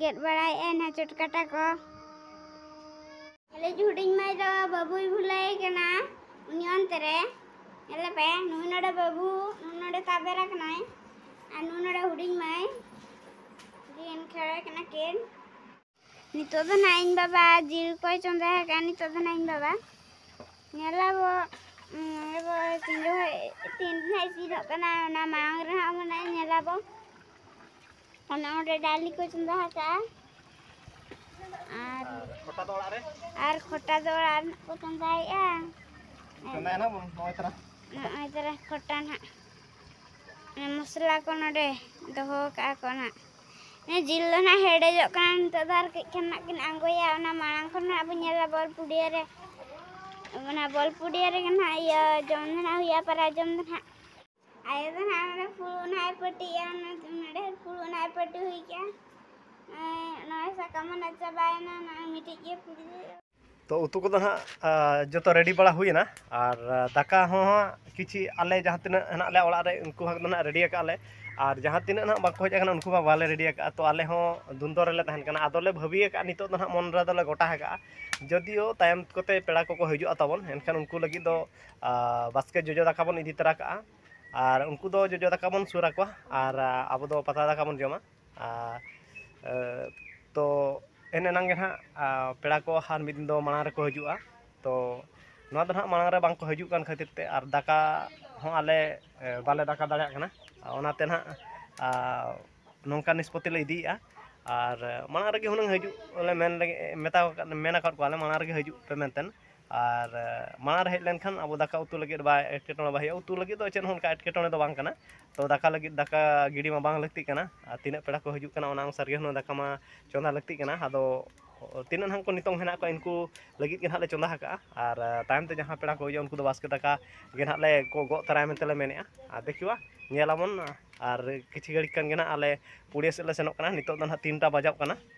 ᱜᱮᱫ ᱵᱟᱲᱟᱭᱮᱫᱼᱟᱭ ᱱᱟ ᱪᱚᱴ ᱠᱟᱴᱟ ᱠᱚ ᱟᱞᱮ ᱦᱩᱰᱤᱧ ᱢᱟᱹᱭ ᱫᱚ ᱵᱟᱹᱵᱩᱭ ᱵᱷᱩᱞᱟᱹᱭ ᱠᱟᱱᱟ ᱩᱱᱤ ᱚᱱᱛᱮ ᱨᱮ ᱧᱮᱞᱮ ᱯᱮ ᱱᱩᱭ ᱱᱚᱰᱮ ᱵᱟᱹᱵᱩ ᱱᱩᱭ ᱱᱚᱰᱮ ᱛᱟᱵᱮᱨ ᱟᱠᱟᱱᱟᱭ ᱟᱨ ᱱᱩᱭ ᱱᱚᱰᱮ ᱦᱩᱰᱤᱧ ᱢᱟᱹᱭ ᱫᱤᱱ ᱠᱷᱮᱲᱚᱭ ᱠᱟᱱᱟ ᱠᱤᱱ ᱱᱤᱛᱚᱜ ᱫᱚ ᱱᱟᱜ ᱤᱧ ᱵᱟᱵᱟ ᱡᱤᱞ ᱠᱚᱭ ᱪᱚᱸᱫᱟ ᱟᱠᱟᱫᱼᱟ ᱱᱤᱛᱚᱜ ᱫᱚ ᱱᱟᱜ ᱤᱧ ᱵᱟᱵᱟ ᱧᱮᱞᱟᱵᱚ ᱟᱵᱚ ᱛᱤᱱ ᱡᱚᱠᱷᱚᱡ ᱛᱤᱱ ᱨᱮ ᱤᱥᱤᱱᱚᱜ ᱠᱟᱱᱟ ᱚᱱᱟ ᱢᱟᱲᱟᱝ ᱨᱮ ᱦᱟᱸᱜ ᱢᱟᱱᱮ ᱧᱮᱞᱟᱵᱚ ᱚᱱᱟ ᱚᱸᱰᱮ ᱰᱟᱹᱞᱤ ᱠᱚ ᱪᱚᱸᱫᱟ ᱟᱠᱟᱜᱼᱟ ᱟᱨ ᱠᱷᱚᱴᱟ ᱫᱚ ᱚᱲᱟᱜ ᱨᱮ ᱟᱨ ᱠᱷᱚᱴᱟ ᱫᱚ ᱚᱲᱟᱜ ᱨᱮ ᱠᱚ ᱪᱚᱸᱫᱟᱭᱮᱜᱼᱟ ᱪᱚᱸᱫᱟᱭᱟ ᱱᱟᱜ ᱱᱚᱜᱼᱚᱭ ᱛᱟᱨᱟ ᱱᱚᱜᱼᱚᱭ ᱛᱟᱨᱟ ᱠᱷᱚᱴᱟ ᱱᱟᱜ ᱢᱚᱥᱞᱟ ᱠᱚ ᱱᱚᱰᱮ ᱫᱚᱦᱚ ᱠᱟᱜᱼᱟ ᱠᱚ ᱱᱟᱜ ᱡᱤᱞ ᱫᱚ ᱱᱟᱜ ᱦᱮᱰᱮᱡᱚᱜ ᱠᱟᱱᱟ ᱱᱤᱛᱚᱜ ᱫᱚ ᱟᱨ ᱠᱟᱹᱡ ᱠᱷᱟᱱ ᱱᱟᱜ ᱠᱤᱱ ᱟᱬᱜᱚᱭᱟ ᱚᱱᱟ ᱢᱟᱲᱟᱝ ᱠᱷᱚᱱ ᱱᱟᱜ ᱵᱚᱱ ᱧᱮᱞᱟ ᱵᱚᱞ ᱯᱩᱰᱤᱭᱟᱹ ᱨᱮ ᱚᱱᱟ ᱵᱚᱞ ᱯᱩᱰᱤᱭᱟᱹ ᱨᱮᱜᱮ ᱱᱟᱜ ᱤᱭᱟᱹ ᱡᱚᱢ ᱫᱚ ᱱᱟᱜ ᱦᱩᱭᱩᱜᱼᱟ ᱯᱟᱨᱟ ᱡᱚᱢ ᱫᱚ ᱱᱟᱜ ᱟᱭᱳ ᱫᱚ ᱱᱟᱦᱟᱜ ᱱᱚᱰᱮ ᱯᱷᱩᱲᱩᱜ ᱱᱟᱦᱟᱜ ᱮ ᱯᱟᱹᱴᱤᱭᱟ ᱱᱚᱰᱮ ᱯᱷᱩᱲᱩᱜ ᱱᱟᱦᱟᱜ ᱮ ᱯᱟᱹᱴᱤ ᱦᱩᱭ ᱠᱮᱜᱼᱟ ᱱᱚᱜᱼᱚᱭ ᱥᱟᱠᱟᱢ ᱦᱚᱸ ᱱᱟᱦᱟᱜ ᱪᱟᱵᱟᱭᱮᱱᱟ ᱱᱚᱜᱼᱚᱭ ᱢᱤᱫᱴᱤᱡ ᱜᱮ ᱯᱷᱩᱲᱩᱜ ᱛᱚ ᱩᱛᱩ ᱠᱚᱫᱚ ᱦᱟᱸᱜ ᱡᱚᱛᱚ ᱨᱮᱰᱤ ᱵᱟᱲᱟ ᱦᱩᱭᱮᱱᱟ ᱟᱨ ᱫᱟᱠᱟ ᱦᱚᱸ ᱠᱤᱪᱷᱤ ᱟᱞᱮ ᱡᱟᱦᱟᱸ ᱛᱤᱱᱟᱹᱜ ᱦᱮᱱᱟᱜ ᱞᱮᱭᱟ ᱚᱲᱟᱜ ᱨᱮ ᱩᱱᱠᱩ ᱦᱚᱸ ᱱᱟᱦᱟᱜ ᱨᱮᱰᱤ ᱟᱠᱟᱫ ᱞᱮ ᱟᱨ ᱡᱟᱦᱟᱸ ᱛᱤᱱᱟᱹᱜ ᱱᱟᱦᱟᱜ ᱵᱟᱠᱚ ᱦᱮᱡ ᱟᱠᱟᱱᱟ ᱩᱱᱠᱩ ᱢᱟ ᱵᱟᱞᱮ ᱨᱮᱰᱤ ᱟᱠᱟᱫᱼᱟ ᱛᱚ ᱟᱞᱮ ᱦᱚᱸ ᱫᱩᱱᱫᱚ ᱨᱮᱞᱮ ᱛᱟᱦᱮᱱ ᱠᱟᱱᱟ ᱟᱫᱚᱞᱮ ᱵᱷᱟᱹᱵᱤ ᱟᱠᱟᱫᱼᱟ ᱱᱤᱛᱚᱜ ᱫᱚ ᱱᱟᱦᱟᱜ ᱢᱚᱱ ᱨᱮᱫᱚᱞᱮ ᱜᱚᱴᱟ ᱟᱠᱟᱫᱼᱟ ᱡᱳᱫᱤᱭᱳ ᱛᱟᱭᱚᱢ ᱠᱚᱛᱮ ᱯᱮᱲᱟ ᱠᱚᱠᱚ ᱦᱤᱡᱩᱜᱼᱟ ᱛᱟᱵᱚᱱ ᱮᱱᱠᱷᱟᱱ ᱩᱱᱠᱩ ᱞᱟᱹᱜᱤᱫ ᱫᱚ ᱵᱟᱥᱠᱮ ᱡᱚᱡᱚ ᱫᱟᱠᱟ ᱵᱚᱱ ᱤᱫᱤ ᱛᱚᱨᱟ ᱠᱟᱜᱼᱟ ᱟᱨ ᱩᱱᱠᱩ ᱫᱚ ᱡᱚᱡᱚ ᱫᱟᱠᱟ ᱵᱚᱱ ᱥᱩᱨ ᱟᱠᱚᱣᱟ ᱟᱨ ᱟᱵᱚ ᱫᱚ ᱯᱟᱛᱲᱟ ᱫᱟᱠᱟ ᱵᱚᱱ ᱡᱚᱢᱟ ᱟᱨ ᱛᱚ ᱮᱱ ᱮᱱᱟᱝ ᱜᱮ ᱱᱟᱜ ᱯᱮᱲᱟ ᱠᱚ ᱟᱨ ᱢᱤᱫ ᱫᱤᱱ ᱫᱚ ᱢᱟᱲᱟᱝ ᱨᱮᱠᱚ ᱦᱤᱡᱩᱜᱼᱟ ᱛᱚ ᱱᱚᱣᱟ ᱫᱚ ᱱᱟᱜ ᱢᱟᱲᱟᱝ ᱨᱮ ᱵᱟᱝ ᱠᱚ ᱦᱤᱡᱩᱜ ᱠᱟᱱ ᱠᱷᱟᱹᱛᱤᱨ ᱛᱮ ᱟᱨ ᱫᱟᱠᱟ ᱦᱚᱸ ᱟᱞᱮ ᱵᱟᱞᱮ ᱫᱟᱠᱟ ᱫᱟᱲᱮᱭᱟᱜ ᱠᱟᱱᱟ ᱚᱱᱟᱛᱮ ᱱᱟᱜ ᱱᱚᱝᱠᱟ ᱱᱤᱥᱯᱚᱛᱤ ᱞᱮ ᱤᱫᱤᱭᱮᱜᱼᱟ ᱟᱨ ᱢᱟᱲᱟᱝ ᱨᱮᱜᱮ ᱦᱩᱱᱟᱹᱝ ᱦᱤᱡᱩᱜ ᱞᱮ ᱢᱮᱱ ᱞᱮᱜᱮ ᱢᱮᱛᱟ ᱠᱚ ᱢᱮᱱ ᱠᱟᱜ ᱠᱚᱣᱟᱞᱮ ᱢᱟᱲᱟᱝ ᱨᱮᱜᱮ ᱦᱤᱡᱩᱜ ᱯᱮ ᱢᱮᱱᱛᱮ ᱟᱨ ᱢᱟᱲᱟᱝ ᱨᱮ ᱦᱮᱡ ᱞᱮᱱᱠᱷᱟᱱ ᱟᱵᱚ ᱫᱟᱠᱟ ᱩᱛᱩ ᱞᱟᱹᱜᱤᱫ ᱵᱟᱭ ᱮᱴᱠᱮᱴᱚᱬᱮ ᱵᱟᱭ ᱦᱩᱭᱩᱜᱼᱟ ᱩᱛᱩ ᱞᱟᱹᱜᱤᱫ ᱫᱚ ᱪᱮᱫ ᱦᱚᱸ ᱚᱱᱠᱟ ᱮᱴᱠᱮᱴᱚᱬᱮ ᱫᱚ ᱵᱟᱝ ᱠᱟᱱᱟ ᱛᱚ ᱫᱟᱠᱟ ᱞᱟᱹᱜᱤᱫ ᱫᱟᱠᱟ ᱜᱤᱰᱤ ᱢᱟ ᱵᱟᱝ ᱞᱟᱹᱠᱛᱤᱜ ᱠᱟᱱᱟ ᱟᱨ ᱛᱤᱱᱟᱹᱜ ᱯᱮᱲᱟ ᱠᱚ ᱦᱤᱡᱩᱜ ᱠᱟᱱᱟ ᱚᱱᱟ ᱚᱱᱩᱥᱟᱨ ᱜᱮ ᱦᱩᱱᱟᱹᱝ ᱫᱟᱠᱟ ᱢᱟ ᱪᱚᱸᱫᱟ ᱞᱟᱹᱠᱛᱤᱜ ᱠᱟᱱᱟ ᱟᱫᱚ ᱛᱤᱱᱟᱹᱜ ᱱᱟᱦᱟᱜ ᱠᱚ ᱱᱤᱛᱚᱜ ᱢᱮᱱᱟᱜ ᱠᱚᱣᱟ ᱩᱱᱠᱩ ᱞᱟᱹᱜᱤᱫ ᱜᱮ ᱱᱟᱦᱟᱜ ᱞᱮ ᱪᱚᱸᱫᱟ ᱟᱠᱟᱫᱼᱟ ᱟᱨ ᱛᱟᱭᱚᱢ ᱛᱮ ᱡᱟᱦᱟᱸ ᱯᱮᱲᱟ ᱠᱚ ᱦᱤᱡᱩᱜᱼᱟ ᱩᱱᱠᱩ ᱫᱚ ᱵᱟᱥᱠᱮ ᱫᱟᱠᱟ ᱜᱮ ᱱᱟᱦᱟᱜ ᱞᱮ ᱜᱚᱜ ᱛᱚᱨᱟᱭᱟ ᱢᱮᱱᱛᱮ ᱞᱮ ᱢᱮᱱᱮᱫᱼᱟ ᱟᱨ ᱫᱮᱠᱷᱤᱣᱟ ᱧᱮᱞ ᱟᱵᱚᱱ ᱟᱨ ᱠᱤᱪᱷᱩ ᱜᱷᱟᱹᱲᱤᱡ ᱠᱷᱟᱱ ᱜᱮ ᱱᱟᱦᱟᱜ ᱟᱞᱮ ᱯᱩᱲᱤᱭᱟᱹ ᱥᱮᱫ ᱞᱮ ᱥᱮᱱᱚᱜ ᱠᱟᱱᱟ ᱱᱤᱛᱚᱜ ᱫᱚ ᱱᱟᱦᱟᱜ ᱛᱤᱱᱴᱟ ᱵᱟᱡᱟᱜ ᱠᱟᱱᱟ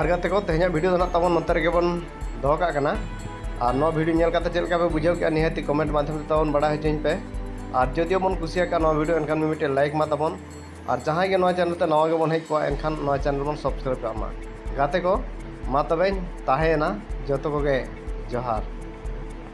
ᱟᱨ ᱜᱟᱛᱮ ᱠᱚ ᱛᱮᱦᱮᱧᱟᱜ ᱵᱷᱤᱰᱤᱭᱳ ᱫᱚ ᱱᱟᱜ ᱛᱟᱵᱚᱱ ᱱᱚᱛᱮ ᱨᱮᱜᱮ ᱵᱚᱱ ᱫᱚᱦᱚ ᱠᱟᱜ ᱠᱟᱱᱟ ᱟᱨ ᱱᱚᱣᱟ ᱵᱷᱤᱰᱤᱭᱳ ᱧᱮᱞ ᱠᱟᱛᱮ ᱪᱮᱫ ᱞᱮᱠᱟ ᱯᱮ ᱵᱩᱡᱷᱟᱹᱣ ᱠᱮᱜᱼᱟ ᱱᱤᱦᱟᱹᱛᱤ ᱠᱚᱢᱮᱱᱴ ᱢᱟᱫᱽᱫᱷᱚᱢ ᱛᱮ ᱛᱟᱵᱚᱱ ᱵᱟᱲᱟᱭ ᱦᱚᱪᱚᱧ ᱯᱮ ᱟᱨ ᱡᱚᱫᱤ ᱵᱚᱱ ᱠᱩᱥᱤᱭᱟᱠᱟᱜ ᱱᱚᱣᱟ ᱵᱷᱤᱰᱤᱭᱳ ᱮᱱᱠᱷᱟᱱ ᱢᱤᱫᱴᱮᱱ ᱞᱟᱭᱤᱠ ᱢᱟ ᱛᱟᱵᱚᱱ ᱟᱨ ᱡᱟᱦᱟᱸᱭ ᱜᱮ ᱱᱚᱣᱟ ᱪᱮᱱᱮᱞ ᱛᱮ ᱱᱟᱣᱟ ᱜᱮᱵᱚᱱ ᱦᱮᱡ ᱠᱚᱜᱼᱟ ᱮᱱᱠᱷᱟᱱ ᱱᱚᱣᱟ ᱪᱮᱱᱮᱞ ᱵᱚᱱ ᱥᱟᱵᱥᱠᱨᱟᱭᱤᱵᱽ ᱠᱟᱜ ᱢᱟ ᱜᱟᱛᱮ ᱠᱚ ᱢᱟ ᱛᱚᱵᱮᱧ ᱛᱟᱦᱮᱸᱭᱮᱱᱟ ᱡᱚᱛᱚ ᱠᱚᱜᱮ ᱡᱚᱦᱟᱨ